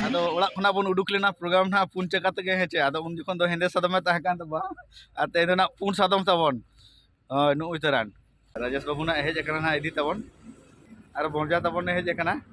ᱟᱫᱚ ᱚᱲᱟᱜ ᱠᱷᱚᱱᱟᱜ ᱵᱚᱱ ᱩᱰᱩᱠ ᱞᱮᱱᱟ ᱯᱨᱳᱜᱨᱟᱢ ᱱᱟᱜ ᱯᱩᱱ ᱪᱟᱠᱟ ᱛᱮᱜᱮ ᱦᱮᱸᱪᱮ ᱟᱫᱚ ᱩᱱ ᱡᱚᱠᱷᱚᱱ ᱫᱚ ᱦᱮᱸᱫᱮ ᱥᱟᱫᱚᱢᱮ ᱛᱟᱦᱮᱸ ᱠᱟᱱ ᱛᱟᱵᱚᱱᱟ ᱟᱨ ᱛᱮᱦᱮᱧ ᱫᱚ ᱱᱟᱜ ᱯᱩᱱ ᱥᱟᱫᱚᱢ ᱛᱟᱵᱚᱱ ᱦᱳᱭ ᱱᱩᱜᱼᱩᱭ ᱛᱟᱨᱟᱱ ᱨᱟᱡᱮᱥ ᱵᱟᱹᱵᱩ ᱱᱟᱜ ᱦᱮᱡ ᱟᱠᱟᱱᱟ ᱱᱟᱜ ᱤᱫᱤ ᱛᱟᱵᱚᱱ ᱟᱨ ᱵᱚᱨᱡᱟ ᱛᱟᱵᱚᱱᱮ ᱦᱮᱡ ᱟᱠᱟᱱᱟ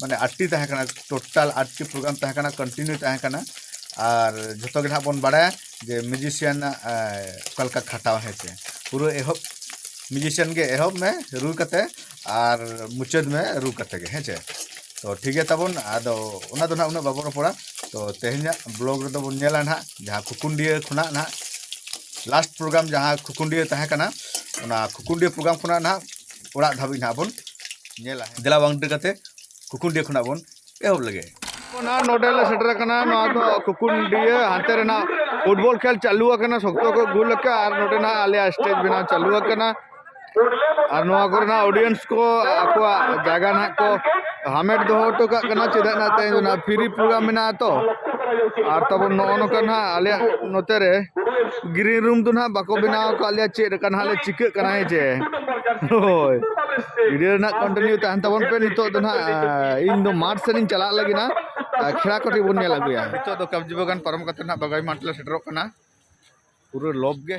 ᱢᱟᱱᱮ ᱟᱴᱴᱤ ᱛᱟᱦᱮᱸ ᱠᱟᱱᱟ ᱴᱳᱴᱟᱞ ᱟᱴᱴᱤ ᱯᱨᱳᱜᱨᱟᱢ ᱛᱟᱦᱮᱸ ᱠᱟᱱᱟ ᱠᱚᱱᱴᱤᱱᱤᱭᱩ ᱛᱟᱦᱮᱸ ᱠᱟᱱᱟ ᱟᱨ ᱡᱷᱚᱛᱚ ᱜᱮ ᱱᱟᱦᱟᱜ ᱵᱚᱱ ᱵᱟᱲᱟᱭᱟ ᱡᱮ ᱢᱤᱭᱩᱡᱤᱥᱤᱭᱟᱱ ᱚᱠᱟ ᱞᱮᱠᱟ ᱠᱷᱟᱴᱟᱣ ᱦᱮᱸ ᱥᱮ ᱯᱩᱨᱟᱹ ᱮᱦᱚᱵ ᱢᱤᱭᱩᱡᱤᱥᱤᱭᱟᱱ ᱜᱮ ᱮᱦᱚᱵ ᱢᱮ ᱨᱩ ᱠᱟᱛᱮ ᱟᱨ ᱢᱩᱪᱟᱹᱫ ᱢᱮ ᱨᱩ ᱠᱟᱛᱮ ᱜᱮ ᱦᱮᱸ ᱥᱮ ᱛᱚ ᱴᱷᱤᱠ ᱜᱮᱭᱟ ᱛᱟᱵᱚᱱ ᱟᱫᱚ ᱚᱱᱟ ᱫᱚ ᱱᱟᱦᱟᱜ ᱩᱱᱟᱹᱜ ᱵᱟᱵᱚᱱ ᱨᱚᱯᱚᱲᱟ ᱛᱚ ᱛᱮᱦᱮᱧᱟᱜ ᱵᱞᱚᱜ ᱨᱮᱫᱚ ᱵᱚᱱ ᱧᱮᱞᱟ ᱱᱟᱦᱟᱜ ᱡᱟᱦᱟᱸ ᱠᱷᱩᱠᱩᱱᱰᱤᱭᱟᱹ ᱠᱷᱚᱱᱟᱜ ᱱᱟᱦᱟᱜ ᱞᱟᱥᱴ ᱯᱨᱳᱜᱨᱟᱢ ᱡᱟᱦᱟᱸ ᱠᱷᱩᱠᱩᱱᱰᱤᱭᱟᱹ ᱛᱟᱦᱮᱸ ᱠᱟᱱᱟ ᱚᱱᱟ ᱠᱷᱩᱠᱩᱱᱰᱤᱭᱟᱹ ᱯᱨᱳᱜᱨᱟᱢ ᱠᱷᱚᱱᱟᱜ ᱱᱟᱦᱟᱜ ᱚᱲᱟᱜ ᱫᱷᱟᱹᱵᱤᱡ ᱱᱟᱦᱟᱜ ᱵᱚᱱ ᱧᱮᱞᱟ ᱫᱮᱞᱟ ᱵᱟᱝ ᱰᱮᱨ ᱠᱟᱛᱮ ᱠᱩᱠᱩᱱᱰᱤᱭᱟᱹ ᱠᱷᱚᱱᱟᱜ ᱵᱚᱱ ᱮᱦᱚᱵ ᱞᱮᱜᱮ ᱱᱟᱦᱟᱜ ᱱᱚᱰᱮ ᱞᱮ ᱥᱮᱴᱮᱨ ᱟᱠᱟᱱᱟ ᱱᱚᱣᱟ ᱫᱚ ᱠᱩᱠᱩᱱᱰᱤᱭᱟᱹ ᱦᱟᱱᱛᱮ ᱨᱮᱱᱟᱜ ᱯᱷᱩᱴᱵᱚᱞ ᱠᱷᱮᱞ ᱪᱟᱹᱞᱩ ᱟᱠᱟᱱᱟ ᱥᱚᱠᱛᱚ ᱠᱚ ᱜᱩᱞ ᱟᱠᱟᱫᱼᱟ ᱟᱨ ᱱᱚᱰᱮ ᱱᱟᱦᱟᱜ ᱟᱞᱮᱭᱟᱜ ᱥᱴᱮᱡᱽ ᱵᱮᱱᱟᱣ ᱪᱟᱹᱞᱩ ᱟᱠᱟᱱᱟ ᱟᱨ ᱱᱚᱣᱟ ᱠᱚᱨᱮᱱᱟᱜ ᱚᱰᱤᱭᱮᱱᱥ ᱠᱚ ᱟᱠᱚᱣᱟᱜ ᱡᱟᱭᱜᱟ ᱱᱟᱦᱟᱜ ᱠᱚ ᱦᱟᱢᱮᱴ ᱫᱚᱦᱚ ᱦᱚᱴᱚ ᱠᱟᱜ ᱠᱟᱱᱟ ᱪᱮᱫᱟᱜ ᱱᱟᱦᱟᱜ ᱛᱮᱦᱮᱧ ᱫᱚ ᱱᱟᱦᱟᱜ ᱯᱷᱨᱤ ᱯᱨᱳᱜᱨᱟᱢ ᱢᱮᱱᱟᱜᱼᱟ ᱛᱚ ᱟᱨ ᱛᱟᱵᱚᱱ ᱱᱚᱜᱼᱚ ᱱᱚᱝᱠᱟ ᱱᱟᱦᱟᱜ ᱟᱞᱮᱭᱟᱜ ᱱᱚᱛᱮ ᱨᱮ ᱜᱨᱤᱱ ᱨᱩᱢ ᱫᱚ ᱱᱟᱦᱟᱜ ᱵᱟᱠᱚ ᱵᱮᱱᱟᱣ ᱟᱠᱟᱫ ᱞᱮᱭᱟ ᱪᱮᱫ ᱞᱮᱠᱟ ᱱᱟᱦᱟᱜ ᱞᱮ ᱪᱤᱠᱟᱹᱜ ᱠᱟᱱᱟ ᱦᱮᱸ ᱪᱮ ᱦᱳᱭ ᱵᱷᱤᱰᱤᱭᱳ ᱨᱮᱱᱟᱜ ᱠᱚᱱᱴᱤᱱᱤᱭᱩ ᱛᱟᱦᱮᱱ ᱛᱟᱵᱚᱱ ᱯᱮ ᱱᱤᱛᱚᱜ ᱫᱚ ᱱᱟᱦᱟᱜ ᱤᱧ ᱫᱚ ᱢᱟᱴᱷ ᱥᱮᱱᱤᱧ ᱪᱟᱞᱟᱜ ᱞᱟᱹᱜᱤᱫ ᱱᱟ ᱠᱷᱮᱲᱟ ᱠᱚᱴᱷᱮ ᱵᱚᱱ ᱧᱮᱞ ᱟᱹᱜᱩᱭᱟ ᱱᱤᱛᱚᱜ ᱫᱚ ᱠᱟᱵᱽᱡᱤ ᱵᱟᱜᱟᱱ ᱯᱟᱨᱚᱢ ᱠᱟᱛᱮ ᱱᱟᱦᱟᱜ ᱵᱟᱜᱟᱭ ᱢᱟᱴᱷ ᱞᱮ ᱥᱮᱴᱮᱨᱚᱜ ᱠᱟᱱᱟ ᱯᱩᱨᱟᱹ ᱞᱚᱵᱽ ᱜᱮ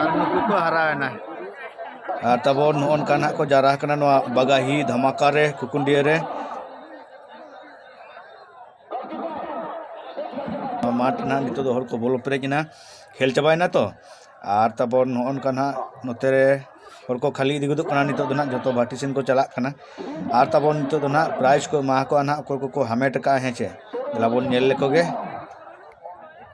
ᱟᱨ ᱱᱩᱠᱩ ᱠᱚ ᱦᱟᱨᱟᱣᱮᱱᱟ ᱟᱨ ᱛᱟᱵᱚᱱ ᱱᱚᱜᱼᱚ ᱱᱚᱝᱠᱟ ᱱᱟᱜ ᱠᱚ ᱡᱟᱣᱨᱟ ᱟᱠᱟᱱᱟ ᱱᱚᱣᱟ ᱵᱟᱜᱟᱦᱤ ᱫᱷᱟᱢᱟᱠᱟ ᱨᱮ ᱠᱩᱠᱩᱱᱰᱤᱭᱟᱹ ᱨᱮ ᱢᱟᱴᱷ ᱱᱟᱜ ᱱᱤᱛᱚᱜ ᱫᱚ ᱦᱚᱲ ᱠᱚ ᱵᱚᱞᱚ ᱯᱮᱨᱮᱡ ᱮᱱᱟ ᱠᱷᱮᱞ ᱪᱟᱵᱟᱭᱮᱱᱟ ᱛᱚ ᱟᱨ ᱛᱟᱯᱚᱨ ᱱᱚᱜᱼᱚ ᱱᱚᱝᱠᱟ ᱱᱟᱜ ᱱᱚᱛᱮ ᱨᱮ ᱦᱚᱲ ᱠᱚ ᱠᱷᱟᱹᱞᱤ ᱤᱫᱤ ᱜᱚᱫᱚᱜ ᱠᱟᱱᱟ ᱱᱤᱛᱚᱜ ᱫᱚ ᱱᱟᱜ ᱡᱚᱛᱚ ᱵᱷᱟᱴᱤ ᱥᱮᱱ ᱠᱚ ᱪᱟᱞᱟᱜ ᱠᱟᱱᱟ ᱟᱨ ᱛᱟᱵᱚᱱ ᱱᱤᱛᱚᱜ ᱫᱚ ᱱᱟᱜ ᱯᱨᱟᱭᱤᱡᱽ ᱠᱚ ᱮᱢᱟ ᱠᱚᱣᱟ ᱱᱟᱜ ᱚᱠᱚᱭ ᱠᱚᱠᱚ ᱦᱟᱢᱮᱴ ᱟᱠᱟᱫᱼᱟ ᱦᱮᱸ ᱪᱮ ᱫᱮᱞᱟ ᱵᱚᱱ ᱧᱮᱞ ᱞᱮᱠᱚ ᱜᱮ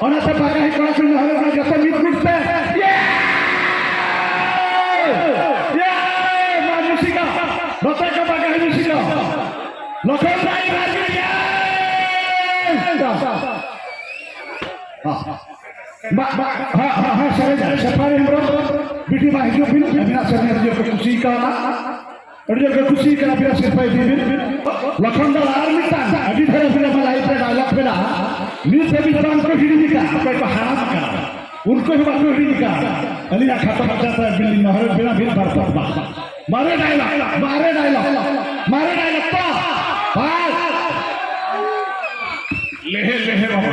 ᱚᱱᱟ ᱛᱮ ᱵᱟᱠᱟ ᱦᱮᱡ ᱠᱚᱲᱟ ᱥᱩᱱ ᱦᱟᱞᱮ ᱵᱟᱲᱟ ᱡᱚᱛᱚ ᱢᱤᱫ ᱜᱩᱴ ᱯᱮ ᱭᱮ ᱭᱮ ᱢᱟ ᱢᱩᱥᱤᱠᱟ ᱱᱚᱛᱮ ᱠᱚ ᱵᱟᱠᱟ ᱦᱮᱡ ᱢᱩᱥᱤᱠᱟ ᱞᱚᱠᱷᱚᱱ ᱨᱟᱭ ᱨᱟᱡ ᱭᱮ ᱵᱟ ᱵᱟ ᱦᱟ ᱦᱟ ᱦᱟ ᱥᱟᱨᱮ ᱥᱟᱯᱟᱨᱮ ᱢᱨᱚ ᱵᱤᱴᱤ ᱵᱟ ᱦᱤᱡᱩᱜ ᱵᱤᱱ ᱟᱹᱵᱤᱱᱟᱜ ᱥᱟᱨᱮ ᱡᱚᱛᱚ ᱠᱩᱥᱤ ᱠᱟᱣᱱᱟ ᱟᱹᱰᱤ ᱡᱟᱭᱜᱟ ᱠᱩᱥᱤ ᱠᱟᱱᱟ ᱯᱮᱭᱟ ᱥᱤᱨᱯᱟᱹ ᱤᱫᱤ ᱵᱤᱱ ᱞᱚᱠᱷᱚᱱ ᱫᱚ ᱟᱨ ᱢᱤᱫᱴᱟᱝ ᱟᱹᱰᱤ ᱰᱷᱮᱨ ᱯᱮᱭᱟ ᱢᱟ ᱞᱟᱭᱤᱵ ᱨᱮ ᱰᱟᱭᱞᱚᱜ ᱢᱮᱱᱟᱜᱼᱟ ᱱᱤᱛ ᱫᱷᱟᱹᱵᱤᱡ ᱵᱟᱝ ᱠᱚ ᱦᱤᱲᱤᱧ ᱠᱟᱜ ᱚᱠᱚᱭ ᱠᱚ ᱦᱟᱲᱟᱢ ᱠᱟᱱᱟ ᱩᱱᱠᱩ ᱦᱚᱸ ᱵᱟᱠᱚ ᱦᱤᱲᱤᱧ ᱠᱟᱜ ᱟᱹᱞᱤᱧᱟᱜ ᱠᱷᱟᱛᱟ ᱠᱷᱟᱛᱟ ᱛᱮ ᱵᱤᱞᱤ ᱢᱟᱦᱨᱮ ᱵᱮᱱᱟ ᱵᱤᱱ ᱵᱟᱨ ᱵᱟᱨ ᱵᱟᱨ ᱢᱟᱨᱮ ᱰᱟᱭᱞᱚᱜ ᱢᱟᱨᱮ ᱰᱟᱭᱞᱚᱜ ᱢᱟᱨᱮ ᱰᱟᱭᱞᱚᱜ ᱯᱟ ᱵᱟᱨ লেহে লেহে বাবা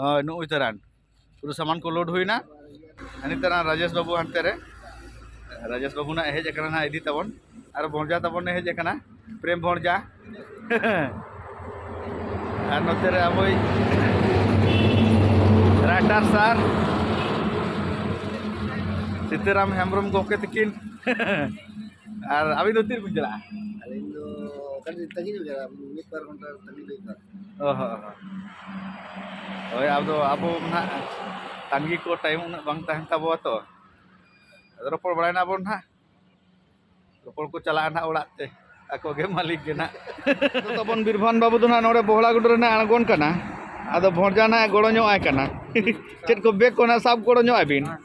ᱦᱳᱭ ᱱᱩᱜᱼᱩᱭ ᱛᱟᱨᱟᱱ ᱯᱩᱨᱟᱹ ᱥᱟᱢᱟᱱ ᱠᱚ ᱞᱳᱰ ᱦᱩᱭᱱᱟ ᱦᱟᱹᱱᱤ ᱛᱟᱨᱟᱱ ᱨᱟᱡᱮᱥ ᱵᱟᱹᱵᱩ ᱦᱟᱱᱛᱮ ᱨᱮ ᱨᱟᱡᱮᱥ ᱵᱟᱹᱵᱩ ᱱᱟᱜ ᱦᱮᱡ ᱟᱠᱟᱱᱟ ᱱᱟᱜ ᱤᱫᱤ ᱛᱟᱵᱚᱱ ᱟᱨ ᱵᱷᱚᱸᱡᱟ ᱛᱟᱵᱚᱱᱮ ᱦᱮᱡ ᱟᱠᱟᱱᱟ ᱯᱨᱮᱢ ᱵᱷᱚᱸᱡᱟ ᱟᱨ ᱱᱚᱛᱮ ᱨᱮ ᱟᱵᱚᱭ ᱨᱟᱭᱴᱟᱨ ᱥᱟᱨ ᱥᱤᱛᱟᱹᱨᱟᱢ ᱦᱮᱢᱵᱨᱚᱢ ᱜᱚᱢᱠᱮ ᱛᱟᱹᱠᱤᱱ ᱟᱨ ᱟᱹᱵᱤᱱ ᱫᱚ ᱛᱤᱨᱮᱵᱤᱱ ᱪᱟᱞᱟᱜᱼᱟ ᱟᱹᱞᱤᱧ ᱫᱚ ᱠᱟᱹᱴᱤᱡ ᱛᱟᱺᱜᱤ ᱧᱚᱜ ᱜᱮᱭᱟ ᱢᱤᱫ ᱵᱟᱨ ᱜᱷᱚᱱᱴᱟ ᱛᱟᱺᱜᱤ ᱦᱩᱭᱩᱜᱼᱟ ᱚ ᱦᱚᱸ ᱦᱚᱸ ᱦᱳᱭ ᱟᱫᱚ ᱟᱵᱚ ᱱᱟᱦᱟᱜ ᱛᱟᱺᱜᱤ ᱠᱚ ᱴᱟᱭᱤᱢ ᱩᱱᱟᱹᱜ ᱵᱟᱝ ᱛᱟᱦᱮᱱ ᱛᱟᱵᱚᱣᱟ ᱛᱚ ᱟᱫᱚ ᱨᱚᱯᱚᱲ ᱵᱟᱲᱟᱭ ᱱᱟᱵᱚᱱ ᱱᱟᱦᱟᱜ ᱨᱚᱯᱚᱲ ᱠᱚ ᱪᱟᱞᱟᱜᱼᱟ ᱱᱟᱦᱟᱜ ᱚᱲᱟᱜ ᱛᱮ ᱟᱠᱚ ᱜᱮ ᱢᱟᱹᱞᱤᱠ ᱜᱮ ᱱᱟᱦᱟᱜ ᱟᱫᱚ ᱛᱟᱵᱚᱱ ᱵᱤᱨᱵᱷᱟᱱ ᱵᱟᱹᱵᱩ ᱫᱚ ᱱᱟᱦᱟᱜ ᱱᱚᱰᱮ ᱵᱚᱦᱲᱟ ᱜᱩᱰᱩ ᱨᱮ ᱱᱟᱦᱟᱜ ᱟᱬᱜᱚᱱ ᱠᱟᱱᱟ ᱟᱫᱚ ᱵᱷᱚᱸᱡᱟ ᱱᱟᱦᱟᱜ ᱜᱚᱲᱚ ᱧᱚᱜ ᱟᱭ ᱠᱟᱱᱟ ᱪᱮᱫ ᱠᱚ ᱵᱮᱜᱽ ᱠᱚ ᱱᱟᱦᱟᱜ ᱥᱟᱵ ᱜᱚᱲᱚ ᱧᱚᱜ ᱟᱭ ᱵᱤᱱ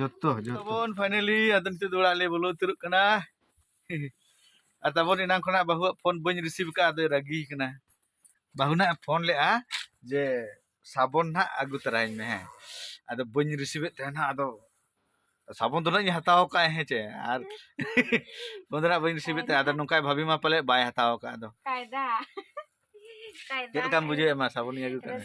ᱡᱚᱛᱚ ᱡᱚᱛᱚ ᱯᱷᱟᱭᱱᱟᱞᱤ ᱟᱫᱚ ᱱᱤᱛᱚᱜ ᱫᱚ ᱚᱲᱟᱜ ᱞᱮ ᱵᱚᱞᱚ ᱩᱛᱟᱹᱨᱚᱜ ᱠᱟᱱᱟ ᱟᱨ ᱛᱟᱵᱚᱱ ᱮᱱᱟᱝ ᱠᱷᱚᱱᱟᱜ ᱵᱟᱹᱦᱩᱣᱟᱜ ᱯᱷᱳᱱ ᱵᱟᱹᱧ ᱨᱤᱥᱤᱵᱷ ᱠᱟᱜᱼᱟ ᱟᱫᱚᱭ ᱨᱟᱹᱜᱤ ᱠᱟᱱᱟ ᱵᱟᱹᱦᱩ ᱱᱟᱜ ᱯᱷᱳᱱ ᱞᱮᱜᱼᱟ ᱡᱮ ᱥᱟᱵᱚᱱ ᱱᱟᱜ ᱟᱹᱜᱩ ᱛᱟᱨᱟᱭᱤᱧ ᱢᱮ ᱦᱮᱸ ᱟᱫᱚ ᱵᱟᱹᱧ ᱨᱤᱥᱤᱵᱷᱮᱫ ᱛᱟᱦᱮᱱᱟ ᱟᱫᱚ ᱥᱟᱵᱚᱱ ᱫᱚ ᱱᱟᱜ ᱤᱧ ᱦᱟᱛᱟᱣ ᱠᱟᱜᱼᱟ ᱦᱮᱸ ᱪᱮ ᱟᱨ ᱯᱷᱳᱱ ᱫᱚ ᱱᱟᱜ ᱵᱟᱹᱧ ᱨᱤᱥᱤᱵᱷᱮᱫ ᱛᱟᱦᱮᱸ ᱟᱫᱚ ᱱᱚᱝᱠᱟᱭ ᱵᱷᱟᱵᱤ ᱢᱟ ᱯᱟᱞᱮ ᱵᱟᱭ ᱦᱟᱛᱟᱣ ᱠᱟᱜᱼᱟ ᱟᱫᱚ ᱪᱮᱫ ᱞᱮᱠᱟᱢ ᱵᱩᱡᱷᱟᱹᱣᱮᱫ ᱢᱟ ᱥᱟᱵᱚᱱᱤᱧ ᱟᱹᱜᱩ ᱠᱟᱜᱼᱟ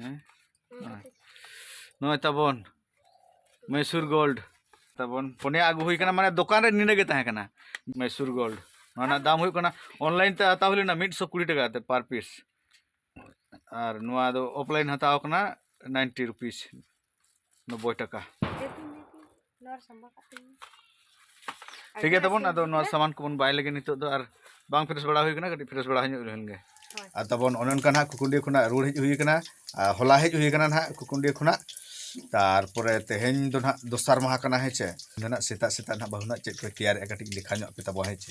ᱦᱮᱸ ᱱᱚᱜᱼᱚᱭ ᱛᱟᱵᱚᱱ ᱢᱮᱥᱩᱨ ᱜᱳᱞᱰ ᱛᱟᱵᱚᱱ ᱯᱚᱱᱭᱟ ᱟᱹᱜᱩ ᱦᱩᱭ ᱠᱟᱱᱟ ᱢᱟᱱᱮ ᱫᱚᱠᱟᱱ ᱨᱮ ᱱᱤᱱᱟᱹ ᱜᱮ ᱛᱟᱦᱮᱸ ᱠᱟᱱᱟ ᱢᱮᱥᱩᱨ ᱜᱳᱞᱰ ᱱᱚᱣᱟ ᱨᱮᱱᱟᱜ ᱫᱟᱢ ᱦᱩᱭᱩᱜ ᱠᱟᱱᱟ ᱚᱱᱞᱟᱭᱤᱱ ᱛᱮ ᱦᱟᱛᱟᱣ ᱦᱩᱭ ᱞᱮᱱᱟ ᱢᱤᱫ ᱥᱚ ᱠᱩᱲᱤ ᱴᱟᱠᱟ ᱠᱟᱛᱮ ᱯᱟᱨ ᱯᱤᱥ ᱟᱨ ᱱᱚᱣᱟ ᱫᱚ ᱚᱯᱷᱞᱟᱭᱤᱱ ᱦᱟᱛᱟᱣ ᱠᱟᱱᱟ ᱱᱟᱭᱤᱱᱴᱤ ᱨᱩᱯᱤᱥ ᱱᱚᱵᱽᱵᱚᱭ ᱴᱟᱠᱟ ᱴᱷᱤᱠ ᱜᱮᱭᱟ ᱛᱟᱵᱚᱱ ᱟᱫᱚ ᱱᱚᱣᱟ ᱥᱟᱢᱟᱱ ᱠᱚᱵᱚᱱ ᱵᱟᱭ ᱞᱟᱹᱜᱤᱫ ᱱᱤᱛᱚᱜ ᱫᱚ ᱟᱨ ᱵᱟᱝ ᱯᱷᱨᱮᱥ ᱵᱟᱲᱟ ᱦᱩᱭ ᱠᱟᱱᱟ ᱠᱟᱹᱴᱤᱡ ᱯᱷᱨᱮᱥ ᱵᱟᱲᱟ ᱧᱚᱜ ᱞᱮᱱ ᱜᱮ ᱟᱨ ᱛᱟᱵᱚᱱ ᱚᱱᱮ ᱚᱱᱠᱟ ᱱᱟᱦᱟᱜ ᱠᱩᱠᱩᱱᱰᱤ ᱠᱷᱚᱱᱟᱜ ᱨᱩᱣᱟᱹᱲ ᱦᱮᱡ ᱦᱩᱭ ᱠᱟᱱᱟ ᱟᱨ ᱦᱚᱞᱟ ᱦᱮᱡ ᱦᱩᱭ ᱠᱟᱱᱟ ᱱᱟᱦᱟᱜ ᱠᱩᱠᱩᱱᱰᱤ ᱠᱷᱚᱱᱟᱜ ᱛᱟᱨᱯᱚᱨᱮ ᱛᱮᱦᱮᱧ ᱫᱚ ᱱᱟᱦᱟᱜ ᱫᱚᱥᱟᱨ ᱢᱟᱦᱟ ᱠᱟᱱᱟ ᱦᱮᱸ ᱪᱮ ᱱᱟᱦᱟᱜ ᱥᱮᱛᱟᱜ ᱥᱮᱛᱟᱜ ᱱᱟᱦᱟᱜ ᱵᱟᱹᱦᱩ ᱱᱟᱦᱟᱜ ᱪᱮᱫ ᱠᱚᱭ ᱛᱮᱭᱟᱨᱮᱜᱼᱟ ᱠᱟᱹᱴᱤᱡ ᱞᱮᱠᱷᱟ ᱧᱚᱜ ᱯᱮ ᱛᱟᱵᱚ ᱦᱮᱸ ᱪᱮ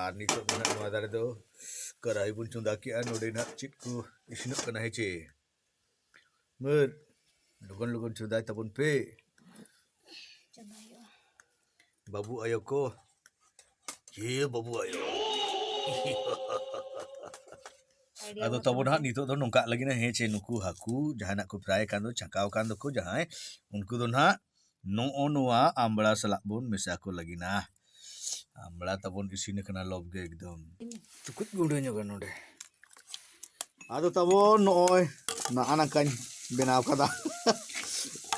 ᱟᱨ ᱱᱤᱛᱚᱜ ᱫᱚ ᱱᱟᱜ ᱱᱚᱣᱟ ᱫᱟᱨᱮ ᱫᱚ ᱠᱟᱨᱟᱦᱤ ᱵᱚᱱ ᱪᱚᱸᱫᱟ ᱠᱮᱜᱼᱟ ᱱᱚᱰᱮ ᱱᱟᱜ ᱪᱮᱫ ᱠᱚ ᱤᱥᱤᱱᱚᱜ ᱠᱟᱱᱟ ᱦᱮᱸᱪᱮ ᱢᱟᱹᱨ ᱞᱚᱜᱚᱱ ᱞᱚᱜᱚᱱ ᱪᱚᱸᱫᱟᱭ ᱛᱟᱵᱚᱱ ᱯᱮ ᱵᱟᱹᱵᱩ ᱟᱭᱳ ᱠᱚ ᱪᱮ ᱵᱟᱹᱵᱩ ᱟᱭᱳ ᱟᱫᱚ ᱛᱟᱵᱚ ᱱᱟᱦᱟᱜ ᱱᱤᱛᱚᱜ ᱫᱚ ᱱᱚᱝᱠᱟ ᱞᱟᱹᱜᱤᱫ ᱦᱮᱸ ᱪᱮ ᱱᱩᱠᱩ ᱦᱟᱹᱠᱩ ᱡᱟᱦᱟᱱᱟᱜ ᱠᱚ ᱯᱨᱟᱭ ᱠᱟᱱ ᱫᱚ ᱪᱷᱟᱸᱠᱟᱣ ᱠᱟᱱ ᱫᱚᱠᱚ ᱡᱟᱦᱟᱸᱭ ᱩᱱᱠᱩ ᱫᱚ ᱱᱟᱦᱟᱜ ᱱᱚᱜᱼᱚ ᱱᱚᱣᱟ ᱟᱢᱵᱽᱲᱟ ᱥᱟᱞᱟᱜ ᱵᱚᱱ ᱢᱮᱥᱟ ᱠᱚ ᱞᱟᱹᱜᱤᱫᱼᱟ ᱟᱢᱵᱽᱲᱟ ᱛᱟᱵᱚᱱ ᱤᱥᱤᱱ ᱟᱠᱟᱱᱟ ᱞᱚᱵᱽ ᱜᱮ ᱮᱠᱫᱚᱢ ᱪᱩᱠᱩᱡ ᱜᱩᱸᱰᱟᱹ ᱧᱚᱜᱟ ᱱᱚᱰᱮ ᱟᱫᱚ ᱛᱟᱵᱚᱱ ᱱᱚᱜᱼᱚᱭ ᱱᱟᱜᱼᱟ ᱱᱟᱝᱠᱟᱧ ᱵᱮᱱᱟᱣ ᱠᱟᱫᱟ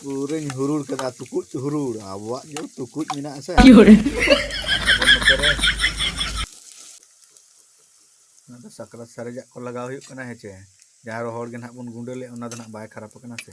ᱯᱩᱨᱟᱹᱧ ᱦᱩᱨᱩᱲ ᱠᱟᱫᱟ ᱛᱩᱠᱩᱡ ᱦᱩᱨᱩᱲ ᱟᱵᱚᱣᱟᱜ ᱜᱮ ᱛᱩᱠᱩᱡ ᱢᱮᱱᱟᱜᱼᱟ ᱥᱮ ᱚᱱᱟ ᱫᱚ ᱥᱟᱠᱨᱟᱛ ᱥᱟᱨᱮᱡᱟᱜ ᱠᱚ ᱞᱟᱜᱟᱣ ᱦᱩᱭᱩᱜ ᱠᱟᱱᱟ ᱦᱮᱸᱪᱮ ᱡᱟᱦᱟᱸ ᱨᱚᱦᱚᱲ ᱜᱮ ᱱᱟᱦᱟᱜ ᱵᱚᱱ ᱜᱩᱸᱰᱟᱹ ᱞᱮᱫ ᱚᱱᱟ ᱫᱚ ᱱᱟᱦᱟᱜ ᱵᱟᱭ ᱠᱷᱟᱨᱟᱯ ᱟᱠᱟᱱᱟ ᱥᱮ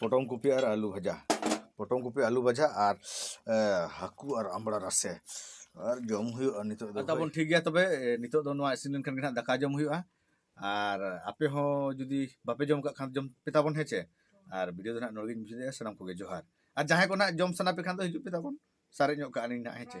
ᱯᱚᱴᱚᱢ ᱠᱚᱯᱤ ᱟᱨ ᱟᱹᱞᱩ ᱵᱷᱟᱡᱟ ᱯᱚᱴᱚᱢ ᱠᱚᱯᱤ ᱟᱹᱞᱩ ᱵᱷᱟᱡᱟ ᱟᱨ ᱦᱟᱹᱠᱩ ᱟᱨ ᱟᱢᱲᱟ ᱨᱟᱥᱮ ᱟᱨ ᱡᱚᱢ ᱦᱩᱭᱩᱜᱼᱟ ᱱᱤᱛᱚᱜ ᱫᱚ ᱛᱟᱵᱚᱱ ᱴᱷᱤᱠ ᱜᱮᱭᱟ ᱛᱚᱵᱮ ᱱᱤᱛᱚᱜ ᱫᱚ ᱱᱚᱣᱟ ᱤᱥᱤᱱ ᱞᱮᱱᱠᱷᱟᱱ ᱜᱮ ᱦᱟᱸᱜ ᱫᱟᱠᱟ ᱡᱚᱢ ᱦᱩᱭᱩᱜᱼᱟ ᱟᱨ ᱟᱯᱮ ᱦᱚᱸ ᱡᱩᱫᱤ ᱵᱟᱯᱮ ᱡᱚᱢ ᱠᱟᱜ ᱠᱷᱟᱱ ᱡᱚᱢ ᱯᱮ ᱛᱟᱵᱚᱱ ᱦᱮᱸ ᱪᱮ ᱟᱨ ᱵᱷᱤᱰᱤᱭᱳ ᱫᱚ ᱦᱟᱸᱜ ᱱᱚᱰᱮ ᱜᱤᱧ ᱢᱩᱪᱟᱹᱫᱮᱜᱼᱟ ᱥᱟᱱᱟᱢ ᱠᱚᱜᱮ ᱡᱚᱦᱟᱨ ᱟᱨ ᱡᱟᱦᱟᱸᱭ ᱠᱚ ᱦᱟᱸᱜ ᱡᱚᱢ ᱥᱟᱱᱟ ᱯᱮ ᱠᱷᱟᱱ ᱫᱚ ᱦᱤᱡᱩᱜ ᱯᱮ ᱛᱟᱵᱚᱱ ᱥᱟᱨᱮᱡ ᱧᱚᱜ ᱠᱟᱜᱼᱟ ᱞᱤᱧ ᱦᱟᱸᱜ ᱦᱮᱸ ᱪᱮ